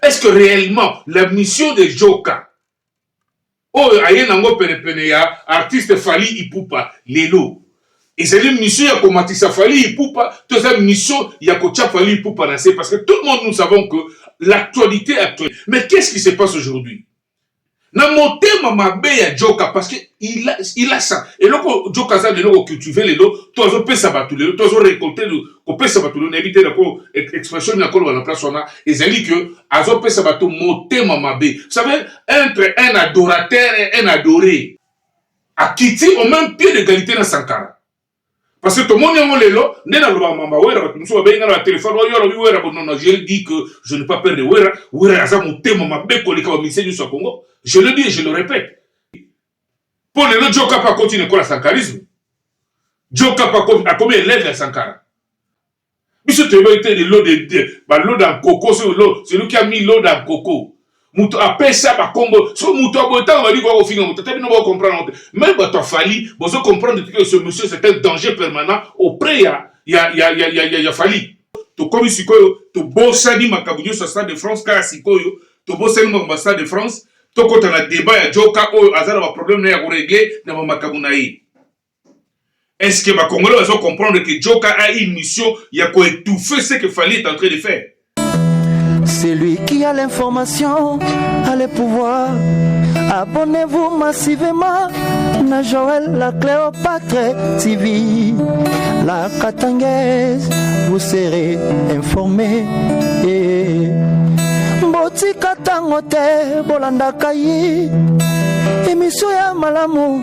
est-ce que réellement la mission de Joka oyo aye nango penepene ya artiste Fally Ipupa lelo ezali mission ya komatisa Fally Ipupa to eza mission ya kotia Fally Ipupa na se parce que tout le monde nous savons que l'actualité actuelle mais qu'est-ce qui se passe aujourd'hui na motema mabe ya joka parce que il a, il a ça eloko joka aza lelo ko cultiver lelo to azo pesa batu lelo to azo récolter ko pesa batu lelo nayebi te na ko expression na koloba na place wana ezali que azo pesa batu motema mabe vous savez entre un adorateur et un adoré akiti au même pied d'égalité na Sankara Parce que tomoni yango lelo nde nalobaka mamba wera bato mosusu babengi ngai na telefone oyo alobi wera bonona je le dis que je ne pas peur de wera wera aza motema mabe koleka bamise nyonso ya congo je le dis et je le répète mpo lelo jokapa akoti na ekola sankarisme jokapa akomi elève ya sankara biso toyebaki te le lot de deux ba lot d'un coco so lot celui qui a mis lot d'un coco moto apesa bakombo so moto ya boye ntango bali koya kofinga moto ata bino boko comprendre yango te meme bato ya fali bozo comprendre te que ce monsieur c'est un danger permanent auprès ya ya ya ya ya ya, ya fali tokomi sikoyo tobosani makambo nyonso ya stade de france kaka sikoyo tobosani makambo ya stade de france tokota na debat ya joka oyo aza na baproblème na ye ya koregle na bamakambo na ye Est-ce que ba Congolais bazo comprendre que Djoka a une mission ya ko étouffer ce que Fally est en train de faire? Celui qui a l'information a le pouvoir. Abonnez-vous massivement na Joël la Cléopâtre TV. La Katangaise, vous serez informé. Eh. Botika tango te bolandaka ye emission ya malamu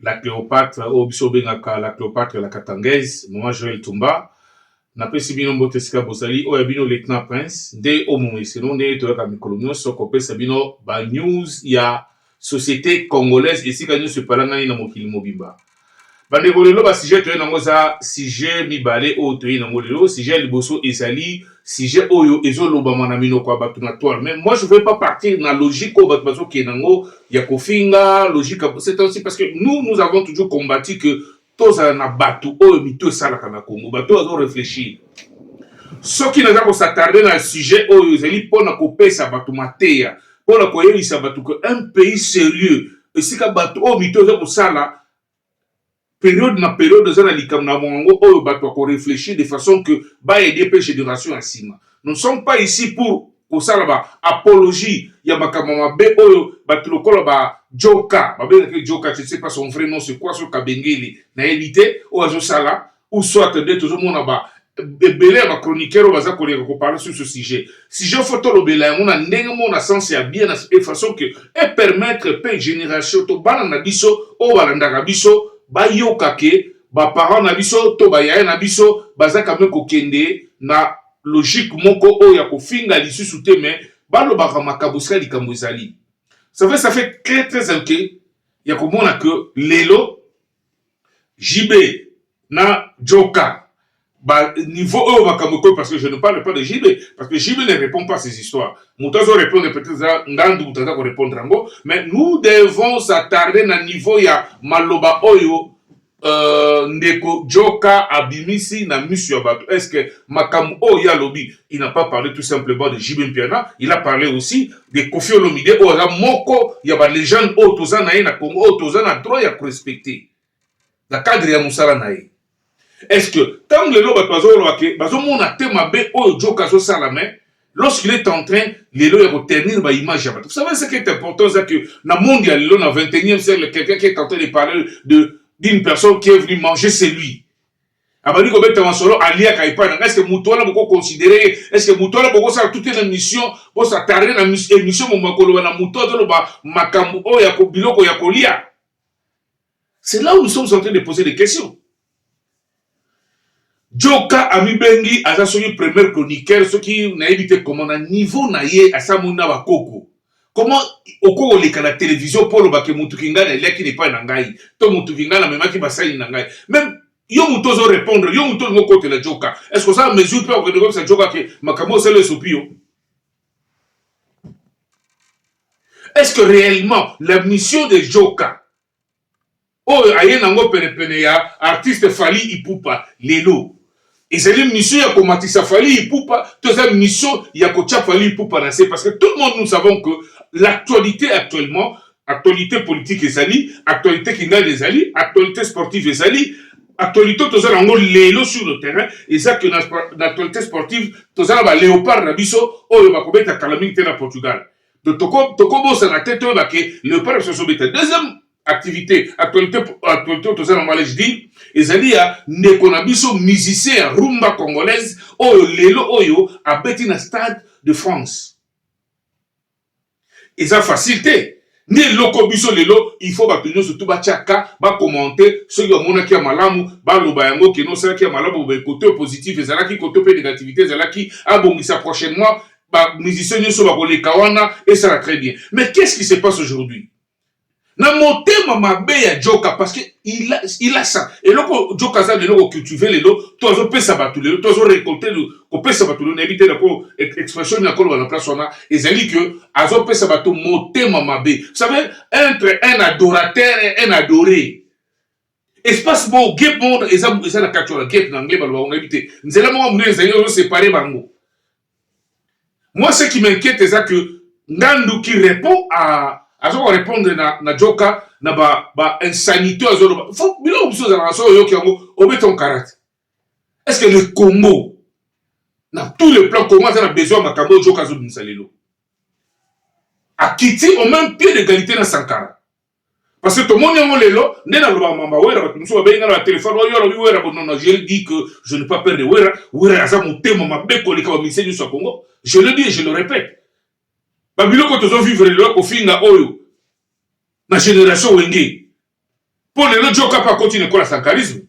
La Cleopatre oyo biso bengaka la Cleopatre la Katangaise, Maman Joëlle Tumba. Napesi bino mbote esika bozali, oyo ya bino Lieutenant Prince, nde o momeseno ndenge toyaka mikolo nyonso kopesa bino ba news ya societe congolaise esika nyonso epalangani na mokili mobimba. Bandeko, lelo ba sujet toye nango eza sujet mibale oyo toye nango lelo. Sujet ya liboso ezali sujet oyo ezo lobama na minoko ya bato na toile mais moi je veux pas partir na logique oyo bato bazo kende yango ya kofinga logique ya c'est aussi parce que nous nous avons toujours combattu que tozala na bato oyo mitu esalaka na Congo bato oyo azo réfléchir soki naza kosatarde na sujet oyo ezali mpo na kopesa bato mateya mpo na koyebisa bato que un pays sérieux esika bato oyo mito eza kosala Periode na periode eza na likambo na bango yango oyo batu bako reflechir de façon que ba aider pe generation ya sima. Nous ne sommes pas ici pour kosala ba apologie ya makambo ya mabe oyo batu lokola ba Djoka, babengaka ye Djoka, je ne sais pas son vrai nom c'est quoi, soki Kabengele nayebi te, oyo azosala ou soit nde tozomona ba ebele ya ba chroniqueur oyo baza koleka koparle sur ce sujet sujet fo tolobela yango na ndenge moko na sens ya bien e façon que e permettre mpe génération to bana na biso oyo balandaka biso bayoka ke baparent na biso to bayaya na biso baza kame kokende na logique moko oyo ya kofinga lisusu te me balobaka makambo esika likambo ezali ça fait ça fait très très inquiet ya komona que lelo JB na Joka ba niveau oyo makambo ekomi parce que je ne parle pas de JB parce que JB ne répond pas à ces histoires moto azo répondre peut-être eza ngandu moto aza ko répondre yango mais nous devons s'attarder na niveau ya maloba oyo euh, ndeko Joka abimisi na misu ya bato est-ce que makambo oyo ye alobi il n'a pas parlé tout simplement de JB Mpiana il a parlé aussi de Koffi Olomide oyo aza moko ya ba legende oyo toza na ye na Congo oyo toza na droit ya korespecte na cadre ya mosala na ye est-ce que ntango lelo bato bazoloba ke bazomona te mabe oyo joke azosala me lorsqu'il est en train lelo ya koternir baimage ya bato vous savez ce qui est important eza que na monde ya lelo na 21e siècle quelqu'un qui est en train de parler de d'une personne qui est venu manger c'est lui abandi kobeta masolo aliaka epai na ngai eske moto wana boko considere ye eske moto wana bokosala toute une émission bosa tarde na émission momo akoloba na moto azoloba makambo oyo ya biloko ya kolia c'est là où nous sommes en train de poser des questions joka amibengi aza soki premier chroniqueur soki nayebi te comment na niveau na ye asamoni na bakoko Comment oko oleka na television po oloba ke mutu kingana eliaki na epai na ngai to mutu kingana amemaki basani na ngai meme yo mutu ozo repondre yo mutu olingi okotela joka est ce que oza mesure mpe okende koyebisa joka ke makambo osala esopi yo est ce que réellement la mission de joka oyo aye nango penepene ya artiste Fally Ipupa lelo ezali mission ya komatisa Fally Ipupa to eza mission ya kotia Fally Ipupa na se parce que tout le monde nous savons que l'actualité actuellement actualité politique ezali actualité kindale ezali actualité sportive ezali actualité toza nango lelo sur le terrain eza que na, na actualité sportive toza na ba léopard na biso oyo bakobeta kala mingi te na Portugal Donc toko toko bosana te to ba ke leopard so so beta. Deuxième activité actualité actualité to zana mwa je dis ezali ya ndeko na biso musicien ya rumba congolaise oyo lelo oyo abeti na stade de France. Eza facile te. nde eloko biso lelo il faut bato nyonso tu batya ka bakomante soki bamonaki ya malamu baloba yango keno osalaki ya malamu bobe kote positif ezalaki kote mpe negativité ezalaki abongisa prochainement ba musiciens nyoso bakoleka wana esala très bien mais qu'est-ce qui se passe aujourd'hui na motema mabe ya joka parce que il a, il a ça eloko joka aza lelo kocultive lelo to azopesa bato lelo to azorecolte kopesa bato lelo nayebi te nako expression nini nakoloba na place wana ezali ke azopesa bato motema mabe savez entre un adorateur et un adoré espace moko gep moko eza eza na kati wana gep na anglais baloba onayebi te nzela moko monene ezali ozo separe bango moi ce qui m'inquiète eza que ngandu qui répond à aza ko répondre na na joka na ba ba insanité azo loba faut biloko mosusu ezalaka soki oyoki yango obeta onkarate est ce que le congo na tout le plan congo aza na besoin ya makambo oyo joka azobimisa lelo akiti au même pied d'égalité na sankara Parce que tomoni yango lelo nde nalobaka mamba wera bato mosusu babengi nga na batelefone oyo alobi wera bonona je dis que je ne pas perdre wera wera aza motema mabe koleka bamise nyonso ya congo je le dis je le répète babiloko tozo vivre lelo kofinga oyo na génération wenge mpo lelo jokapa akoti na ekola sankarisme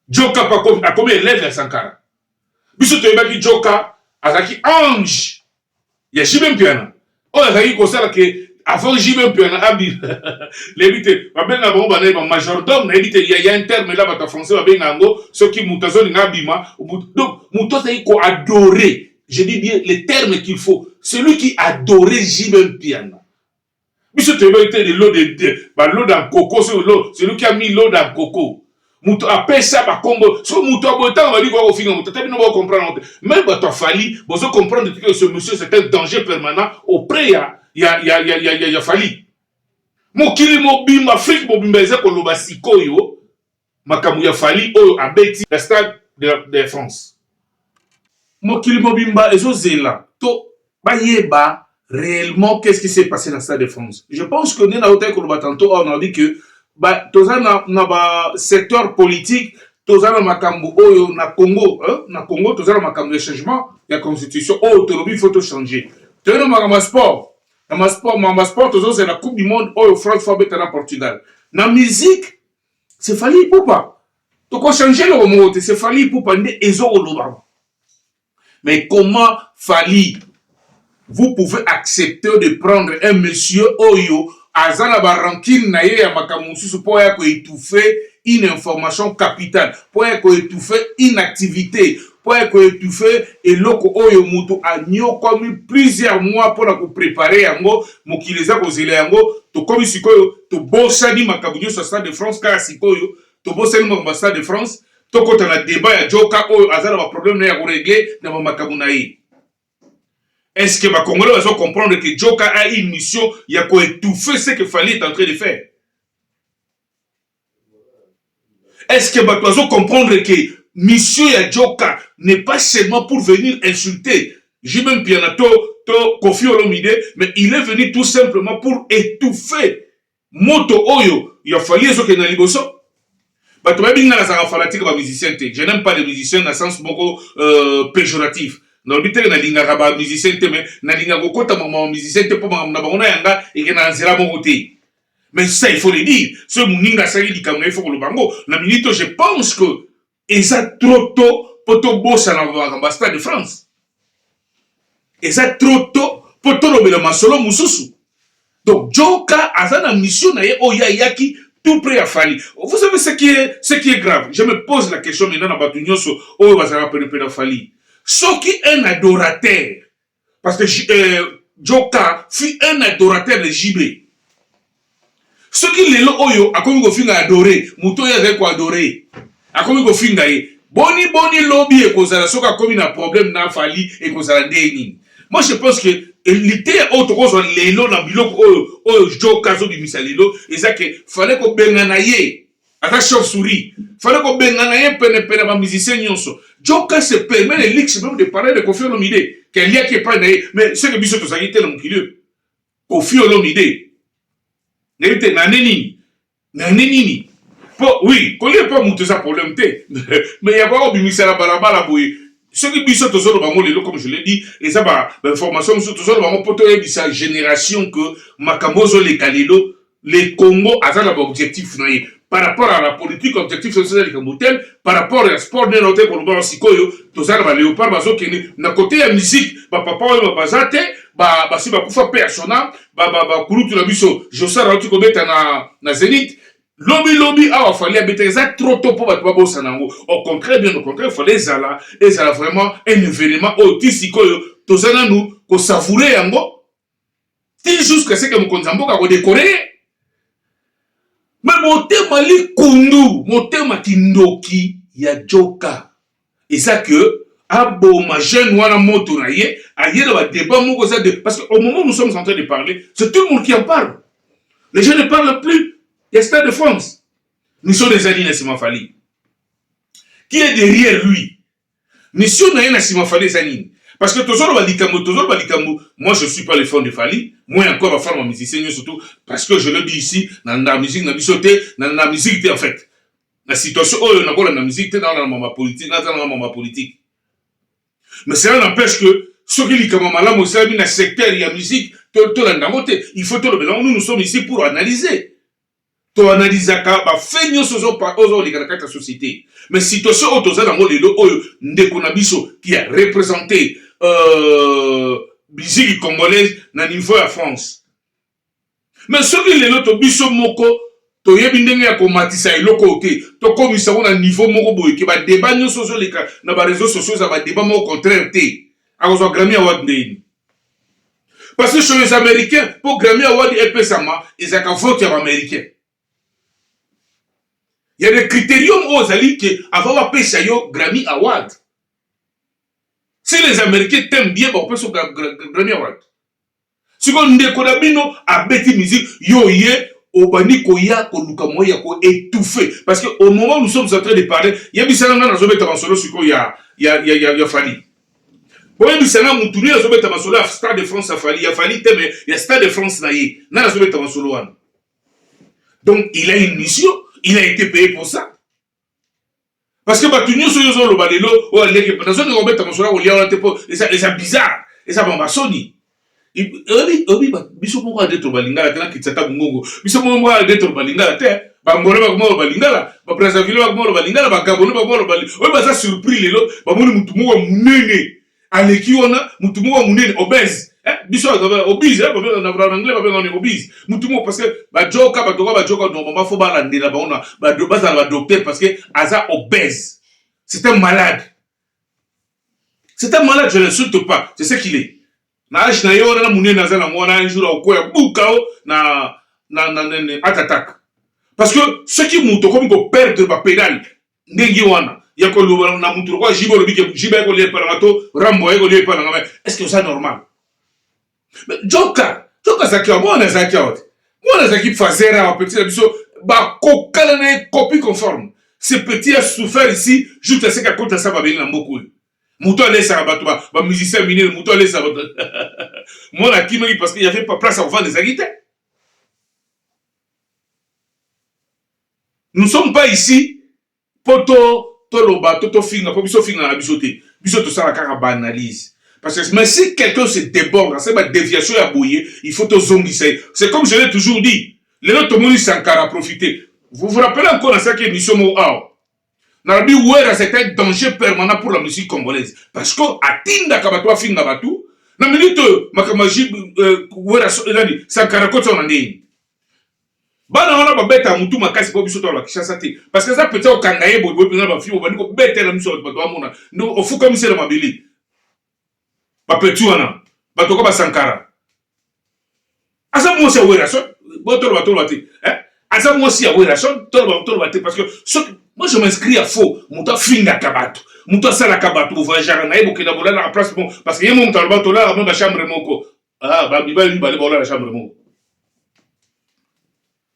jokapa akomi élève ya sankara biso toyebaki joka azalaki ange ya jibe mpiana oyo azalaki kosala ke avant jibe mpiana abima nayebi te babenga bango banaye ba majordome nayebi te ya interme la bato ya français babenga yango soki moto azolinga abima donc moto azalaki koadore je dis bien le terme qu'il faut celui qui adore jibe mpiana biso toyebaki te de lode baloda nkoko celui qui a mis loda nkoko moto apesa bakombo so moto ya boye ntango bali koya kofinga moto ata bino bao comprendre te meme bato afali bozo comprendre te que ce monsieur c'est un danger permanent auprès ya ya ya ya ya ya, ya fali mokili mobimba afrique mobimba eza koloba sikoyo Makambo ya Fally oyo abeti na stade de France. Mokili mobimba ezo zela to ba yeba reellement qu'est-ce qui s'est passe na stade de France. Je pense que nde na otaki koloba tantôt awa na que ba toza na, na ba secteur politique toza na makambo oyo na Congo hein? na Congo toza na makambo ya changement ya constitution oyo oh, tolobi faut to changer. Toyei na makambo ya sport na masport ma masport tozozela coupe du monde oyo france fo abeta na portugal na musique c'est Fally Ipupa toko changer eloko moko te c'est Fally Ipupa nde ezokolobama mais comment Fally vous pouvez accepter de prendre un monsieur oyo aza na barankine na ye ya makambo mosusu mpo ya koetouffe une information capitale mpo ya koetouffe une activité mpo ya ko etouffer eloko oyo mutu aniokwami plusieurs mois mpo na ko preparer yango, mokili eza kozela yango, tokomi sikoyo tobosani makambo nionso ya stade de France kaka sikoyo tobosani makambo ya stade de France, tokota na debat ya Djoka oyo aza na ba problèmes na ye ya ko regler na ba makambo na ye. Est ce que ba congolais bazo comprendre que Djoka a une mission ya ko etouffer ce que Fally est en train de faire? est ce que bato bazo comprendre ke mission ya joka n'est pas seulement pour venir insulter jb mpiana to to kofi olomide mais il est venu tout simplement pour étouffer moto oyo ya fali ezokende na liboso bato bayebi ngai nazalaka fanatique ba musicien te je n'aime pas les musiciens na sens moko euh, péjoratif nalobi teke nalingaka ba musicien te mais nalingaka kokota makambo ya musicien te mpo makambo na bango na yanga ekenda na nzela moko te mais ça il faut le dire soki moninga asali likambo na ye fo koloba yango na minute oyo je pense que eza trop tôt mpo tobosana makambo ya stade de france eza trop tôt mpo tolobela masolo mosusu donc joka aza na mission na ye oyo ayaki tout près ya fali vous savez ce qui est, ce qui est grave je me pose la question maintenant na bato nyonso oyo bazalaka penepene ya fali soki un adorateur Parce que euh, Joka fut un adorateur de JB. soki lelo oyo akomi kofinga adore moto oyo azali koadore akomi kofinga ye boni boni lobi ekozala soki akomi na problème na fali ekozala ndenge nini moi je pense que liteya oyo tokozwa lelo na biloko oyo oyo joka azobimisa lelo eza ke fale kobengana ye aza chauve souris fallait kobengana ye penepene ba musicien nyonso joka se permet le luxe même de parler de kofi olomide ke aliaki epai na ye mais seke biso tozalaki te na mokili oyo kofi olomide nayebi te nane nini nane nini po oui kolia epai moto eza problème te mais ya koya kobimisa na balabala boye soki biso tozoloba yango lelo comme je l'ai dit eza bainformation mosusu tozoloba yango mpo toyebisa génération que makambo ozoleka lelo Le Congo aza na ba objectif na ye par rapport à la politique objectif soki eza likambo tel par rapport ya sport nde naote koloba sikoyo toza na ba leopard bazokende na kote ya musique bapapa oyo baza te basi bakufa mpe ya sona bakulutu na biso josar auti kobeta na, na zenith lobilobi awa fali abeta eza trop tôt mpo bato babosana yango au contraire bien au contraire fali ezala ezala vraiment un événement oyo ti sikoyo toza nanu kosavoure yango ti jusque seke mokonzi ya mboka akodekore ye me motema likundu motema kindoki ya joka eza ke aboma jeune wana moto na ye aye na badeba moko eza de parce que au moment nous sommes en train de parler c'est tout le monde qui en parle les gens ne parlent plus ya stade de france miso na ezali na nsima fali qui est derrière lui Mission na ye na sima Fally eza nini? Parce que tozoloba likambo tozoloba likambo moi je suis pas le fan de Fally moi encore ba fan ba musicien nyo surtout parce que je le dis ici na na musique na biso te na na musique te en fait na situation oyo na kola na musique te na na mama politique na na mama politique mais cela n'empêche que soki likambo malamu esalami na secteur ya musique tolanda yango te il faut tolobela yango nous nous sommes ici pour analyser To analysaka ba faits nionso ozo ozo leka na kati ya societe. Mais situation oyo toza nango lelo oyo ndeko na biso qui a represente euh, biziki congolaise na niveau ya France. Mais soki lelo to biso moko toyebi ndenge ya komatisa eloko oyo te tokomisa yango na niveau moko boye ke badeba nyonso ozoleka na bareseau sociaux eza badeba moko contraire te akozwa grami ya wad ndeni Parce que chez les Américains, pour Grammy Award et Pesama, ils ont vote en Américain. Il y a des critériums aux alliés qui avant la paix, Grammy Award. Si les Américains t'aiment bien, on peut sur Grammy Award. Si on ne connaît pas, à bêti musique, yo yé, obani koya koluka moya ko étouffer parce que au moment où nous sommes en train de parler il y a bisala na zo beta solo siko ya ya ya ya Fally boyebisa nga mutu nini azobeta masolo ya stade de france ya fali ya fali te mais ya stade de france na ye nani azobeta masolo wana donc il a une mission il a été payé pour ça parce que bato nyonso oyo ozoloba lelo oyo aleki nazongi kobeta masolo ya kolia wana te mpo eza bizarre eza bamba soni oyebi oyebi biso moko ade to balingala te na kitisa ta bongongo biso moko moko ade to balingala te bangolo bakoma lo balingala ba brazzaville bakoma lo balingala ba gabonais bakoma lo bali oyo baza surpris lelo bamoni mutu moko munene aleki wana mutu moko munene obese eh, biso baza obese eh, babenga na na anglais babenga ni obese mutu moko parce que ba joka bato ka ba joka normalement faut balandela bango na bazala ba docteur parce que aza obese c'est un malade C'est un malade, je l'insulte pas. C'est ce qu'il est. Na âge na yo na munene aza na ngona un jour akoya bukao na na na na heart attack. Parce que ce qui muto comme ko perdre ba pédale ndenge wana ya ko loba na muto ko jibo lobi ke jiba ko lie pala to rambo ko lie pala ngame. Est-ce que ça normal? joka joka azalaki awa mwana azalaki awa te mwana azalaki fazer awa petit na biso bakokana na ye copie conforme ce petit a souffert ici joute aseki akota sa babeli na mboka oyo moto alesaka bato bamusicien minene moto alesaka bato mwana akimaki parce que yave place ya kovanda ezalaki te nous sommes pas ici Poto toloba to tofinga po biso ofingaka biso te biso tosala kaka ba analyse parce que mais si quelqu'un se deborde asali ba deviation ya boye il faut tozongisa ye c'est comme je l'ai toujours dit lelo tomoni sankara profite vous vous rappelez encore nasalaki émission moko awa nalobi wera c'est un danger permanent pour la musique congolaise parce que atindaka bato afinga bato na minute oyo makambo ya euh, wera nani sankara kotisa na ndenge bana wana babetaka mutu makasi mpo biso tala kishasa te parce que eza peti okanga ye boyeboye mpenza bafilme obandi kobetela miso bato bato bamona ndo ofukamisi na mabele bapeti wana bato ka basankara aza mwasi ya werason botoloba toloba te eh? aza mwasi ya werason toloba toloba te parce que soki moi je m'inscris ya faux moto afingaka bato moto asalaka bato bovoyageaka na ye bokenda bolalaka place bon parce que ye mo moto aloba tolalaka mo bachambre moko Ah, ba mibali mibale baola na chambre moko.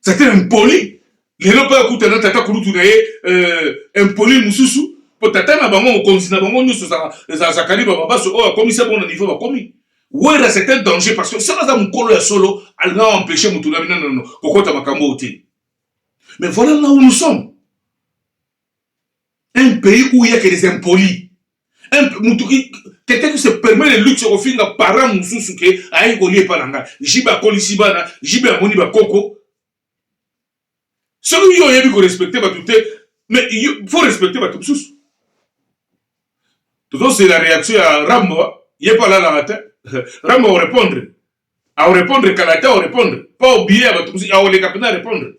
C'était impoli. Lelo mpe akuta na tata kulutu na ye euh, impoli mosusu mpo tata na bango mokonzi na bango nyonso zakali bababaso oyo akomisi bango na niveau bakomi wera c'est un danger parce que soki aza mokolo ya solo alinga aempêche motu na bino nono kokota makambo oyo te mais voilà là où nous sommes un pays où il y a que des impolis un mutu quelqu'un qui se permet le luxe kofinga parent mususu ke ayaki kolia epa na ngai jibe akolisi bana jibe amoni bakoko soki yo oyebi korespecte bato te mais faut respecte bato mosusu tozozela réaction ya rambo ye mpe alalaka te rambo orépondre Au repondre kala te au repondre pas au billet ya bato mosusu au leka pena repondre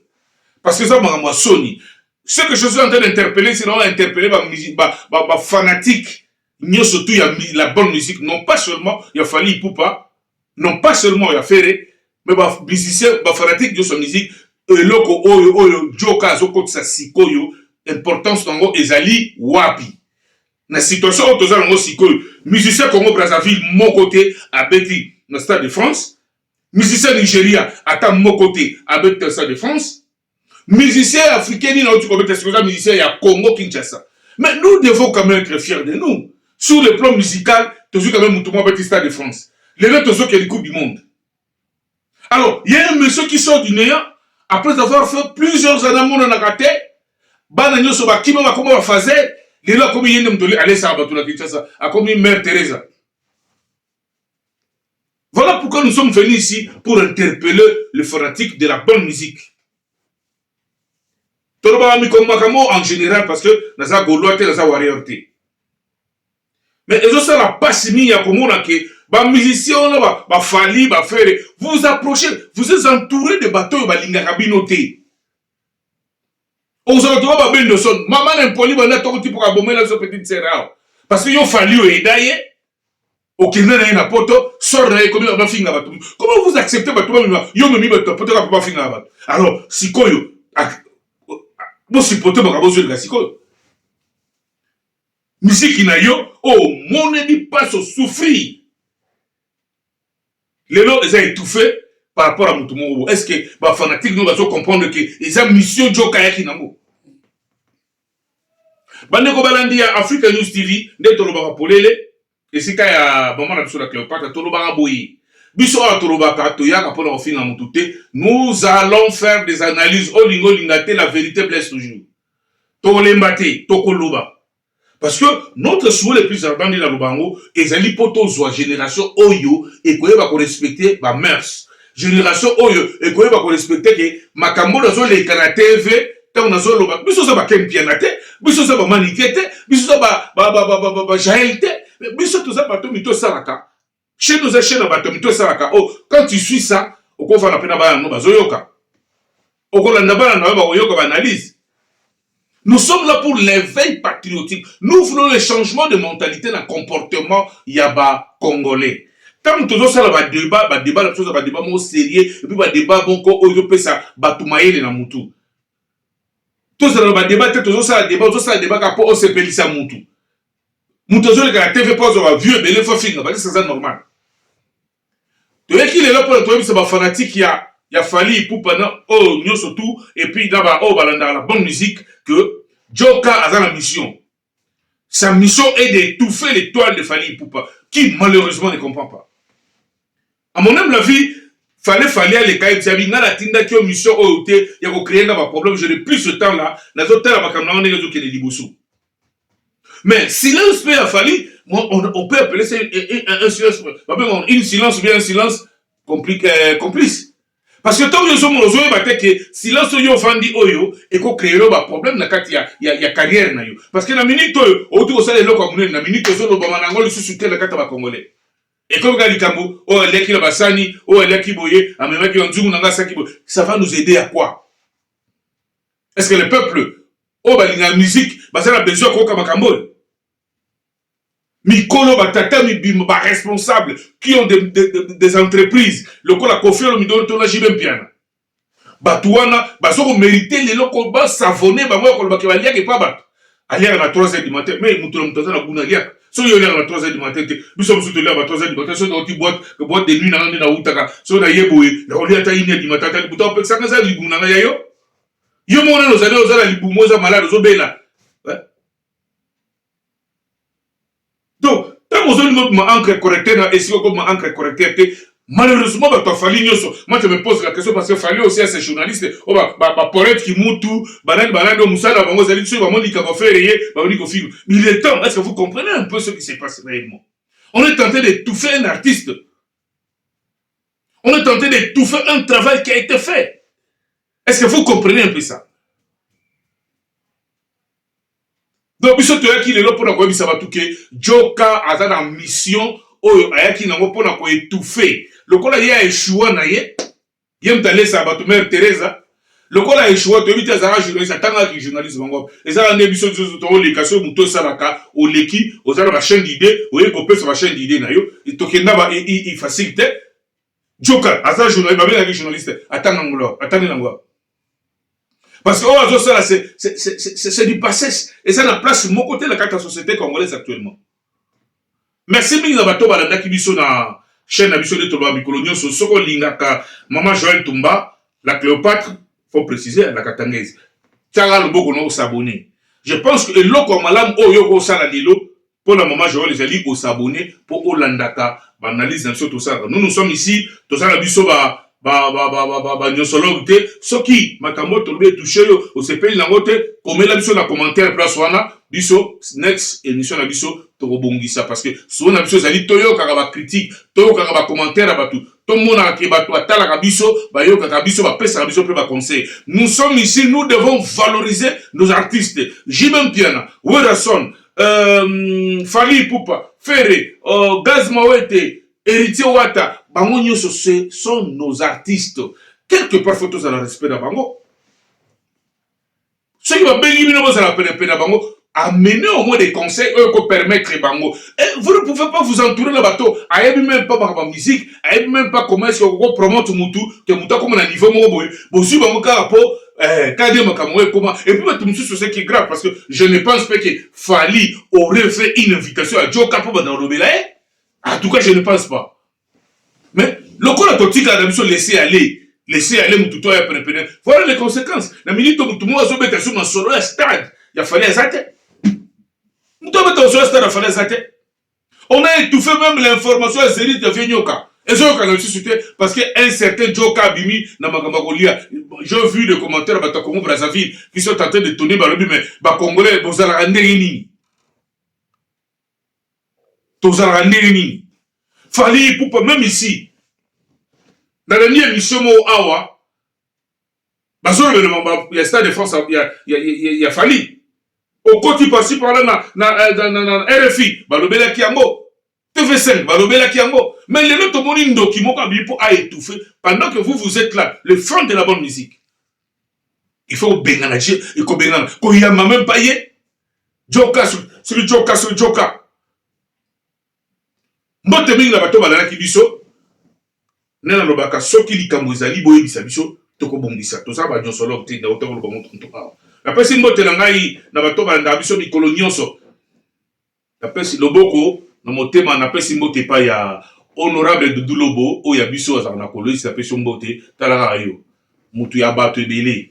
parce que eza makambo ya soni ce que je suis en train d'interpeller c'est na interpeller ba ba ba, ba fanatique nyoso tout ya la bonne musique non pas seulement ya Fally Ipupa non pas seulement ya Ferre mais ba musicien ba fanatique nyoso musique eloko oyo oyo Joka azokotisa sikoyo importance nango ezali wapi Na situation oyo toza nango sikoyo, musicien Congo Brazzaville moko te abeti na Stade de France. Musicien Nigeria ata moko te abeti na Stade de France. Musicien africain nini auti kobeta sikoyo eza musicien ya Congo Kinshasa. Mais nous devons quand même être fiers de nous. Sur le plan musical, tozwi quand même mutu moko abeti Stade de France. Lelo tozokende Coupe du Monde. Alors, il y a un monsieur qui sort du néant après avoir fait plusieurs années mon na kate, bana nyoso ba kima ba koma ba fazer, lelo akomi yende mtoli alesa bato na Kinshasa, akomi mère Teresa. Voilà pourquoi nous sommes venus ici pour interpeller le fanatique de la bonne musique. Tolobaka mikombo makambo en général parce que naza golois te, naza warrior te. mais ezosala pasi mingi ya komona ke bamusicien wana bafali ba bafere vous vous approchez vous êtes entouré de bato oyo balingaka bino te ozala toba babendoson mama na mpoli banda tokoti mpo kabomela biso petite sere awa parce que yo fali oyeda ye okenda na ye na poto sor na ye ekomi bafinga bato comment vous acceptez bato bamema yo omemi bato ya poto kaka mpo bafingaka bato alors sikoyo bosipote makambo ozweleka sikoyo Miziki na yo omoneli pasi o souffrir lelo eza etouffe par rapport à mutu moko bo est ce que ba fanatique no bazo comprendre que eza mission joka ayaki nango bandeko balandi ya africa news tv nde tolobaka polele esika ya mama na biso na cleopatra tolobaka boye biso awa tolobaka toyaka mpona kofinga motu te nous allons faire des analyses olinga olinga te la vérité blesse toujours tokolemba te tokoloba parce que notre souhait le plus ardent nde naloba yango ezali mpo tozwa génération oyo ekoyeba korespecte bamœurs generation oyo ekoyeba ko respecter ke makambo oyo azoleka na tv ntango nazoloba biso oza bakempiana te biso oza bamanike te biso oza bajael te biso toza bato mito esalaka chaine oza chaine ya bato mito esalaka o oh, quand tu suis ça okofana mpe na bana no bazoyoka okolanda bana na yo bakoyoka baanalyse nous sommes là pour l'éveil patriotique nous voulons le changement de mentalité na comportement ya bacongolais ntango tozosala badeba badeba na biso eza badeba moko sérieux epuis badeba moko oyo ezopesa bato mayele na motu tozala na badeba te tozosala deba ozosala deba kaka mpo osepelisa motu moto azoleka na tv mpo azwa bavue ebele fo afinga balisa eza normal toyeki lelo mpona toyebisa ba fanatique ya ya Fally Ipupa na oyo oh, nyoso tout et puis na ba oyo oh, balandaka la bonne musique que Joker aza na mission sa mission est d'étouffer l'étoile de Fally Ipupa qui malheureusement ne comprend pas à mon âme la vie fale fale aleka ye tiabi ngai natindaki yo mission oyo te ya kocreye nga baproblème je n'ai plus ce temps là nazotala makambo na ngo ndenge ezokende liboso Mais silence pe ya Fally, moi on, on peut appeler ça un silence, une silence ou bien un silence complique, euh, complice. Parce que tant que nous ozo yeba te que silence yo vandi oyo et ko créer ba problème na kati ya, ya, ya carrière na yo. Parce que na minute oyo otu ko sala eloko ya munene na minute ozo loba manango lisusu te na kati ba congolais. Et comme ka likambo oyo aliaki na basani, oyo aliaki boye, amemaki yo nzungu na nga saki boye. Ça va nous aider à quoi? est ce que le peuple oyo balingaka musique baza na besoin ya koyoka makambo oyo mikolo batata mibimba baresponsable qui ont des, des, des, des entreprises lokola kofi olomidolo to na jibe mpiana bato wana baza komerite lelo ko basavone bango ya kolobake baliaka epa bato aliaka na 3 heures du matin mais moto na moto aza na guna aliaka soki yo oliaka na 3 heures du matin te biso mosusu toliaka ba 3 heures du matin soki nauti boite boite de nuit nanga nde nautaka soki naye boye nakolia ata ine du matin ata libuta opekisaka eza liguna nga ya yo yo moko nani ozali oza na libumu oza malade ozobela donc ntango ozolinga obima encre correcteur na esika okobima encre correcteur te malheureusement bato ya fali nyonso moi je me pose la question parce que fali aussi ase journaliste oyo oh, baporete kimutu banani banani oyo mosala na bango ezali soki bamoni likambo afere ye babandi kofilma il est temps est ce que vous comprenez un peu ce qui se passe réellement on est tenté de touffer un artiste On est en train d'étouffer un travail qui a été fait. Est-ce que vous comprenez un peu ça donc biso toyaki lelo mpo na koyebisa bato ke joka aza na mission oyo ayaki nango mpo na koetouffe lokola ye aeshua na ye Ye moto alesa bato Mère Teresa lokola a echoua toyebi te azalaka journaliste atangaka ki journalisme yango ezalaka nde biso nzozo toleka soki moto osalaka oleki oza na ba chaîne d'idée oyebi kopesa ba chaîne d'idée na yo tokenda ba facile te joka aza journaliste babengaki journaliste atanga ngolo atangi na ngolo parce que oyo azosala c'est du passé eza na place moko te na kati ya société congolaise actuellement Merci mingi na bato balandaki biso na chaîne na biso nde toloba mikolo nyonso soki olingaka mama Joël Tumba la Cléopâtre faut préciser la Katangaise tiaka loboko na osabone je pense que eloko ya malamu oyo oko osala lelo mpo na mama Joël ezali osabone mpo olandaka baanalyse na biso tosalaka nous nous sommes ici toza na biso ba ba ba ba ba ba, ba nyosologue te soki makambo tolobi etouche yo osepeli nango te komela biso na commentaire place wana biso next émission na biso tokobongisa parce que solo na biso ezali toyokaka ba critique toyokaka ba commentaire ya bato tomonaka ke bato batalaka biso bayokaka biso bapesaka biso mpe ba conseil nous sommes ici nous devons valoriser nos artistes jimem piana werrason euh, fali ipupa ferre euh, gaz mawete Heritier Wata bango nyoso ce sont nos artistes quelque part faut tozala respect na bango soki babengi bino bozala penepene na bango amener au moins des conseils oyo ko permettre bango et vous ne pouvez pas vous entourer na bato ayebi même pas bakaba musique ayebi même pas comment est-ce que ko promote mutu te mutu akoma na niveau moko boye bozwi bango kaka po eh, kade makambo oyo ekoma et puis bato mosusu c'est qui grave parce que je ne pense pas que Fally aurait fait une invitation à Joe Kapo banda kolobela ye eh? En tout cas, je ne pense pas. Mais lokola totika na biso laisser aller laisser aller mutu to ya prepare voilà les conséquences na minute mutu moko azobeta sur masolo ya stade ya fale aza te mutu abeta masolo ya stade ya fale aza te on a étouffé même l'information ya zerite ya vie nyoka ezoyokana lisusu te parce que un certain joka abimi na makambo ya kolia j'ai vu de commentaire ya bato ya congo brazzaville qui sont en train de tourner balobi mais bacongolais bozalaka ndenge nini tozalaka ndenge nini fali ipupa meme ici nalandi emission moko awa bazolobela ba, ya stade de france ya, ya, ya, ya fali okoti pasi parla na, na, eh, na, na, na, na rfi balobelaki yango tv5 balobelaki yango mais lelo tomoni ndoki moko abiyi mpo aetouffe pendant que vous vous êtes là le franc de la bonne musique il faut kobengana je kobengana koyamba meme pas ye joka soki joka soki joka mbote mingi na bato balalaki biso nde nalobaka soki likambo ezali boyebisa biso tokobongisa toza banyonsologe te nauta koloba motu motu awa napesi mbote na ngai na bato balandaka biso mikolo nyonso Napesi loboko na motema, napesi mbote epai ya Honorable Doudou Lobo oyo ya biso azalaka na Kolwezi, napesi yo mbote, tala kaka yo mutu ya bato ebele,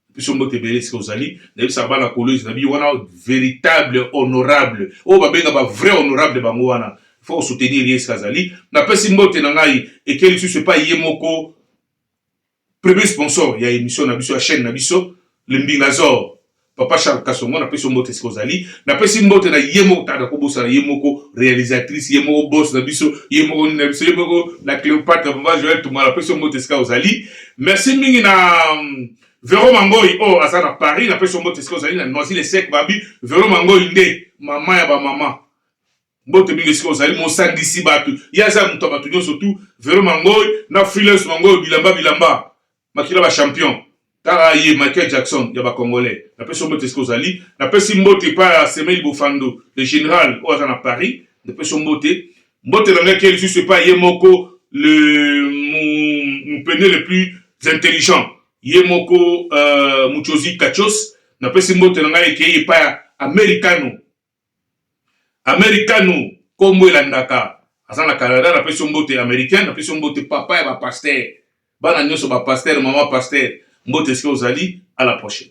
napesi yo mbote ebele esika ozali, nayebisaka bana Kolwezi na biyo wana veritable honorable oyo babenga ba vrai honorable bango wana faut ko soutenir ye esika azali, napesi mbote na ngai eke lisusu epai ye moko Premier sponsor ya emission na biso ya chaine na biso le mbingazor papa Charles Kasongo na pesi yo mbote esika ozali na pesi mbote na ye moko tata ko bosana ye moko realisatrice ye moko boss na biso ye moko nini na biso ye moko la Cleopatre papa Joël Tumba na pesi yo mbote esika ozali merci mingi na Vero Mangoyi oyo oh, aza na Paris na pesi yo mbote esika ozali na Noisy le sec babi Vero Mangoyi nde mama ya ba mama mbote mingi esika ozali mosangisi bato ye aza moto ya bato nyonso tu vero mangoi na freelance mangoi bilamba bilamba makila ba champion tala ye michael jackson ya bacongolais napesi mbote esika ozali napesi mbote epai ya semeli bofando le general oyo aza na paris napesi mbote mbote na ngai ke lisusu epai ye moko le mupende le plus intelligent ye moko uh, euh, muchozi kachos napesi mbote na ngai ekei epai ya americano Americano kombo elandaka aza na Canada na pesi mbote Americain na pesi mbote papa ya ba pasteur bana nyoso ba pasteur maman pasteur mbote esika ozali à la prochaine.